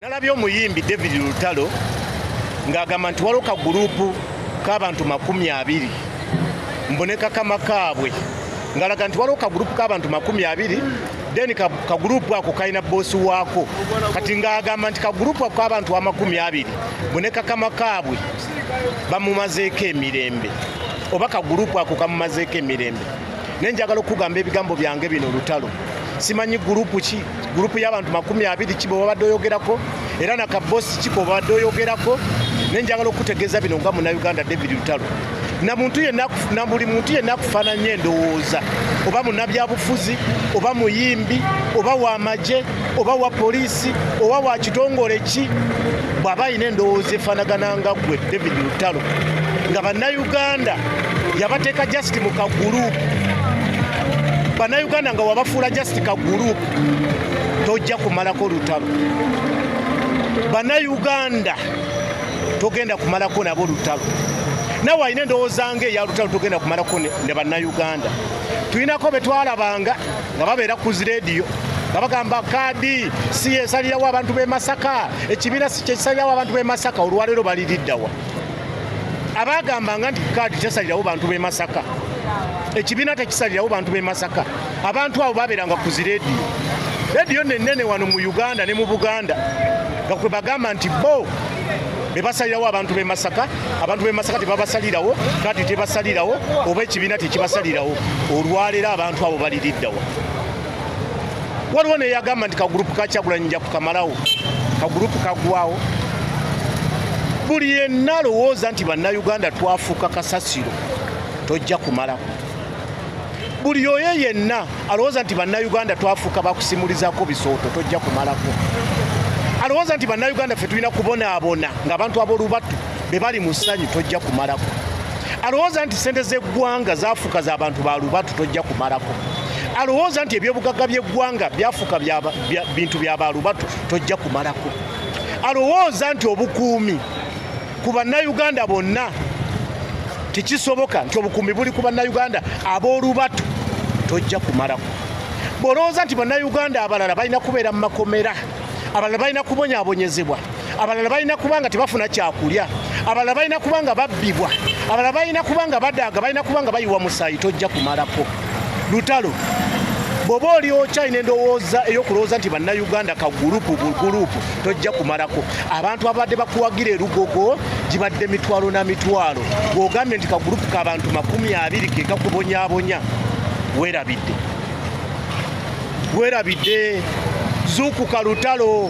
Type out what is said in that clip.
Nalabye omuyimbi David Lutalo ng'agamba nti waliwo ka guruupu k'abantu makumi abiri mbu ne kakama kaabwe ng'alaga nti waliwo ka guruupu k'abantu makumi abiri then ka guruupu ako kalina boosi waako kati ng'agamba nti ka guruupu ako k'abantu amakumi abiri mbu ne kakama kaabwe bamumazeeko emirembe oba ka guruupu ako kamumazeeko emirembe naye njagala okukugamba ebigambo byange bino olutalo simanyi gurupu ki gurupu y'abantu makumi abiri ki bwebabadde oyogerako era na kabosi ki bwebabadde oyogerako naye njagala okukutegeeza bino nga munauganda david lutalo na buli muntu yenna akufaananya endowooza oba munabyabufuzi oba muyimbi oba wamagye oba wa poliisi oba wa kitongole ki bw'aba alina endowooza efaanagana nga ggwe david lutalo nga bannayuganda yabateeka just mu kaguruupu bannayuganda nga wabafuula just kaguruupu tojja kumalako lutalo bannayuganda togenda kumalako nabo lutalo nawe alina endowooza nga eya lutalo togenda kumalako ne bannayuganda tulinako betwalabanga nga babeera ku zi leediyo nga bagamba kaadi si yesalirawo abantu b'e masaka ekibiina si kyekisalirawo abantu b'e masaka olwaleero baliriddawa abaagambanga nti kaadi kyesalirawo bantu b'e masaka ekibiina tekisalirawo bantu b'e masaka abantu abo babeeranga ku zi leediyo leediyo nenene wano mu uganda ne mu buganda nga kwe bagamba nti bo bebasalirawo abantu b'e Masaka abantu b'e Masaka tebabasalirawo kati tebasalirawo oba ekibiina tekibasalirawo olwaleero abantu abo baliriddawa waliwo neyagamba nti kagurupu kakyagulanyi nja kukamalawo kagurupu kagwawo buli yenna alowooza nti bannayuganda twafuuka kasasiro tojja kumalako buli oyo yenna alowooza nti bannayuganda twafuuka bakusimulizako bisooto tojja kumalako alowooza nti bannayuganda ffe tulina kubonaabona ng'abantu ab'olubatu be bali mu ssanyu tojja kumalako alowooza nti ssente z'eggwanga zaafuuka za bantu ba lubatu tojja kumalako alowooza nti ebyobugagga by'eggwanga byafuuka bintu bya ba lubatu tojja kumalako alowooza nti obukuumi ku bannayuganda bonna tekisoboka nti obukuumi buli ku bannayuganda ab'olubatu tojja kumalako bw'olowooza nti bannayuganda abalala balina kubeera mu makomera abalala balina kubonyabonyezebwa abalala balina kuba nga tebafuna kyakulya abalala balina kuba nga babbibwa abalala balina kuba nga badaaga balina kuba nga bayiwa musaayi tojja kumalako lutalo bwoba oli okyalina endowooza eyokulowooza nti bannayuganda ka gulupu gulupu tojja kumalako abantu ababadde bakuwagira erugogo gibadde mitwalo na mitwalo bwogambye nti kagulupu kabantu makumi abiri kekakubonyabonya werabidde werabidde zuukuka lutalo